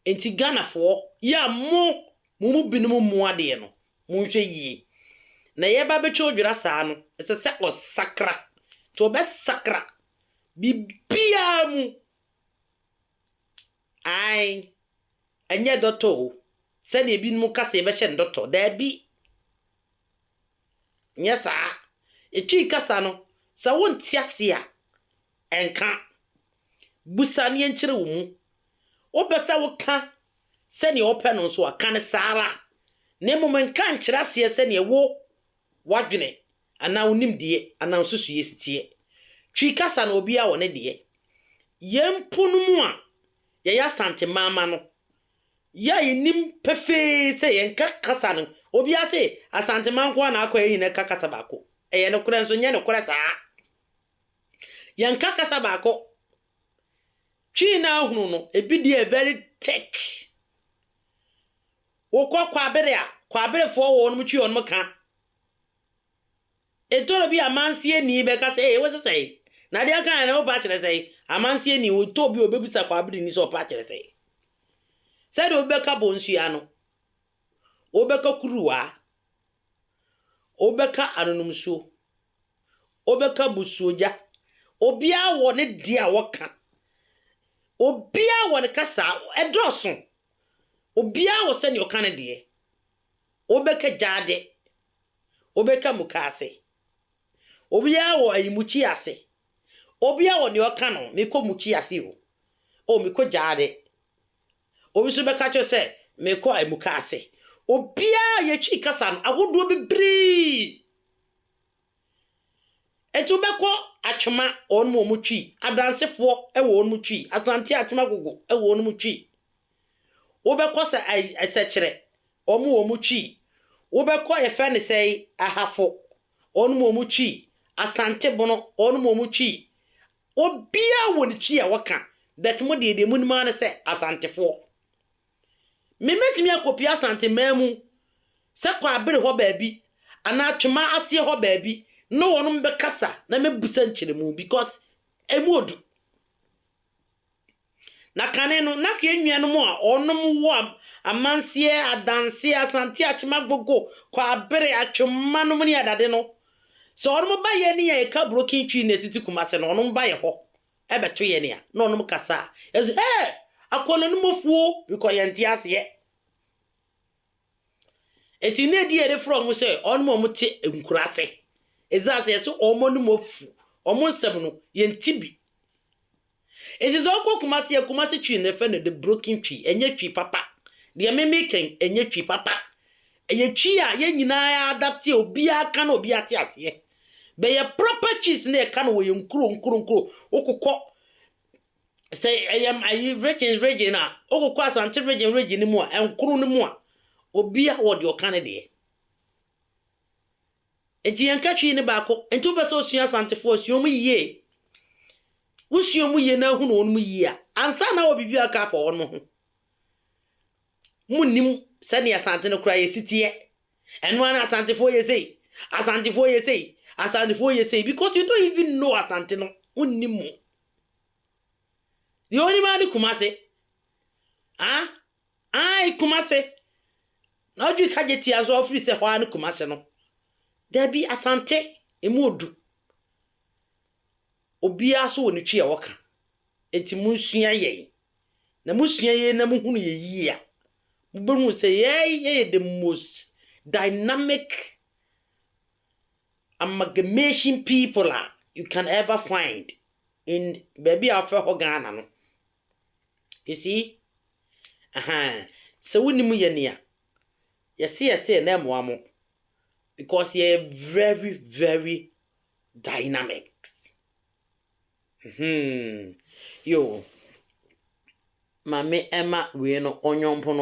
Nti Ghanafoɔ, yɛ a mo, mo mu binom mmu adeɛ no, monhwɛ yie. Na yɛreba abɛtwa odwira saa no, ɛsɛ sɛ ɔsakra. Nti ɔbɛsakra biribiara mu. Ae. Ɛnyɛ dɔtɔ o. Sɛdeɛ binom ka sɛ yɛbɛhyɛ no dɔtɔ. Daabi. Nyɛ saa. Twi kasa no, sɛ wonte ase a, nka. Bisa na yɛnkyerɛ wo mu. Wopɛ sɛ woka sɛnea wopɛ no nso a, ka no saa ara, na mmom nka nkyerɛ aseɛ sɛdeɛ wo, w'adwene anaa wo nimdeɛ anaa wo nsusuiɛ si teɛ. Twi kasa no, obiara wɔ ne deɛ. Yɛn mpo no mu a yɛyɛ Asantehmama no, Yɛ a yɛnim pefee sɛ yɛnka kasa no, obiara se Asanteman nko ara na akɔ a yɛn nyinaa ka kasa baako. Ɛyɛ nokorɛ nso nyɛ nokorɛ saa. Yɛnka kasa baako. Twi no ara hunu no, ebi deɛ yɛ very thick. Wokɔ Kwabere a, Kwaberefoɔ wɔnom Twi wɔnom ka. Etɔ da bi a amansieni bɛka sɛ, Ee, wose sɛn? Na deɛ ɔkaeɛ no, wopɛ akyerɛ sɛn? Amansieni, otɔ bi a obebisa kwaabirni sɛ ɔpɛ akyerɛ sɛn. Sɛdeɛ obi bɛka bonsua no, wobɛka kuruwa, wobɛka anonomsuo, wobɛka busuogya. Obiara wɔ ne deɛ a wɔka. Obiara wɔ ne kasa a ɛdɔɔso. Obiara wɔ sɛdeɛ ɔka ne deɛ. Wobɛka gyaade, wobɛka mukaase. Obiara wɔ ayi mukyi ase, obiara wɔ nea ɔka no, mekɔ mukyi ase o, o mekɔ gyaade. Obi nso bɛka kyerɛ sɛ mekɔ ayi mukaase. Obiara yɛ Twi kasa no ahodoɔ bebree. Nti wobɛkɔ Atwema, wɔn wɔ wɔn Twi, Adansefoɔ wɔ wɔn Twi, Asante Atwema Agogo wɔ wɔn Twi. Wobɛkɔ sɛ ai sɛkyerɛ ɔmo ɔmo twi wobɛkɔ yɛfrɛ no sɛi ahafo ɔnom ɔmo twi asante bono ɔnom ɔmo twi obiaa wɔ ne twi a ɔka but mo deɛ deɛ monim ara ne sɛ asantefoɔ me mɛtumi akɔpie asante mmaa mu sɛ kɔ abere hɔ baabi anaa twema aseɛ hɔ baabi ne wɔnom bɛkasa na mɛbusa nkyerɛmu because ɛmu odu Na kane no, na Kea nuanom a wɔnom wɔ Amanseɛ, Adanse, Asante, Akyem, Agogo, Kwabere, Atwemma nom ne Adade no, sɛ wɔnom ba yɛn ne yɛn a yɛka broken Twi na yɛtete Kumase no, wɔnom ba yɛn hɔ bɛto yɛn a, na wɔnom kasa a, yɛse, Hey! Akɔnnɔnumɔfuo! Because yɛnte aseɛ. Ntsi ne din a yɛdze frɛ hɔn sɛ hɔnom a wɔtse nkuraase. Edze ase yɛse hɔn anomu efuw, hɔn nsɛm no yɛnntse bi. Ntsi dza ɔkɔ Kumase yɛ Kumase Twi na yɛfrɛ no the broken Twi, nnyɛ Twi papa. Deɛ eme meekɛn nnyɛ Twi papa. Ɛyɛ Twi a yɛn nyinaa yɛ adapte a obiara ka na obiara te aseɛ. Bɛyɛ proper Twis na yɛka no wɔ yɛn nkuro nkuro nkuro. Wokokɔ Sɛ ɛyɛ ayi region region a, wokɔkɔ Asante region region no mu a, nkoro no mu a, obiara wɔ deɛ ɔka ne deɛ. Nti yɛn ka Twi ne baako. Nti wopɛ sɛ osua Asantefoɔ a, sua wɔn yie. Wosua wɔn yie na ahunu wɔn yie a, ansa na wɔ biribi a aka afa wɔn ho. Monnim sɛdeɛ Asante no koraa yɛsi teɛ. Ɛno ara na Asantefoɔ yɛ sei. Asantefoɔ yɛ sei. Asantefoɔ yɛ sei. Because you don't even know Asante no. Wonnim mu. Deɛ ɔnim ara ne Kumase. Ah ae Kumase. Na ɔdwe ka gye tia nso a ɔfiri sɛ hɔ ara ne Kumase no. Dabi Asante ɛmu ɔdu. Obiara nso wɔ ne twi a ɔka. Nti monsua yɛn. Na mosua yɛn na mohunu yɛn yie a, mobɛhunu sɛ yɛn yɛyɛ the most dynamic amalgamation people a you can ever find in baabi a wɔfrɛ hɔ Ghana no. You see? Ahaa. Sɛ wonim yɛ nea yɛse yɛse yɛ na ɛmmoa mo because yɛyɛ very very dynamics. Hmm. Yo. Maame ɛma wei no ɔnyɔmpono.